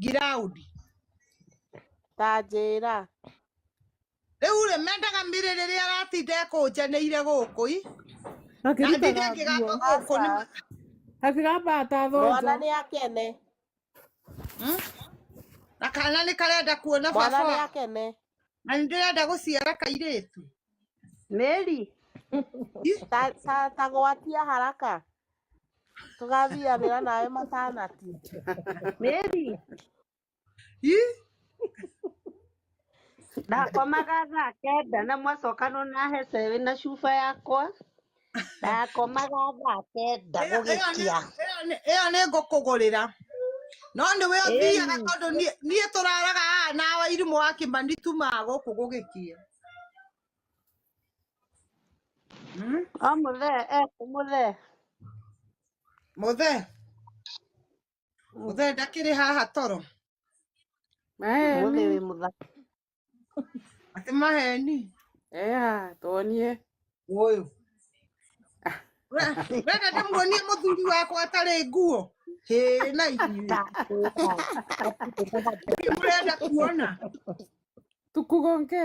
giraudi ta njĩra rĩu rĩ mendaga mĩrĩ rĩrĩa aratinda ekũnjaneire gũkũ i na ndithe akĩrutaga ngĩgamba nguo gũkũ nĩ ma- akĩgambaga ta mwana thonjo nĩ akene Hmm? na kana nĩ karenda kuona mwana baba nĩ wa- akene na nĩ ndĩrenda gũciara kairĩtu Mary, Ih, ta, ta, ta gwatia haraka tũgathianĩra nawe matanati mĩri Ĩ, ndakomaga thaa kenda na mwacoka no nahe cebĩ na cuba yakwa ndakomaga thaa kenda ĩyo- ĩyo nĩ- gũgĩkia ĩyo nĩ- ĩyo nĩ ngũkũgũrĩra no nĩ we ũthiaga Ĩni. tondũ niĩ- niĩ tũraraga haha na wairimu wa kĩmani tumaga gũkũ gũgĩkĩa Hmm? I'm there, eh, I'm there. Mũthe, mũthe ndakĩrĩ haha toro. Maheni. Mũthe wĩ mũthaka. Atĩ maheni. Ea, tuonie. Ũyũ. Wenda ndĩmuonie mũthuri wakwa atarĩ nguo. Hĩ na inyuĩ. Mũrenda kuona. Tukugonge.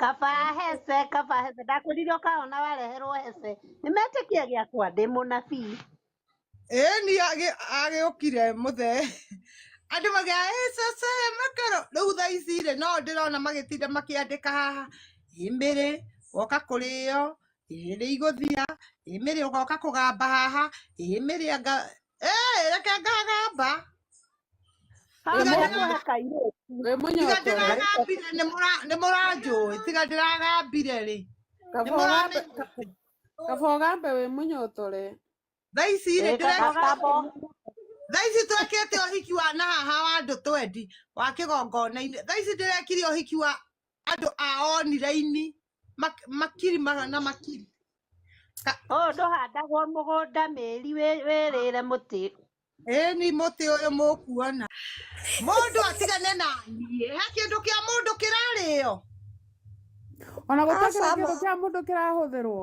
kaba hece kaba hece ndakwĩrire ũkaona wareherwo hece nĩmetĩkia gĩakwa ndĩ mũnabii ĩni agĩũkire mũthe andũ magĩa ĩcece makero rĩu thaa ici rĩ no ndĩrona magĩtinda makĩandĩka haha ĩmĩrĩ woka kũrĩo ĩrĩ igũthia ĩmĩrĩ ũgoka kũgamba haha ĩmĩrĩ anga Hey, reke ngagamba Haha Tiga nĩ ndĩra- kũhaka irĩti. wĩ tiga mũnyoto ndĩragambire nĩ mũra- nĩ mũranjũĩ tiga ndĩragambire rĩ nĩ kaba ũgambe mũramenya kaba ũgambe wĩ mũnyotore thaa ici rĩ Ĩĩ, ndĩreka gakabo thaa ici twekĩte ũhiki wa nahaha wa andũ twendi wa kĩgongona-inĩ thaa ici ndĩrekire ũhiki wa andũ a oniraini mak- makiri magana na makiri Ka- ũyũ ndũhandagwo mũgũnda mĩri wĩ- wĩrĩre mũtĩ ĩni mũtĩ ũyũ mũkuona mũndũ atigane na niĩ he kĩndũ kĩa mũndũ kĩrarĩo ona gũtakĩra Aca, kĩndũ kĩa mũndũ kĩrahũthĩrwo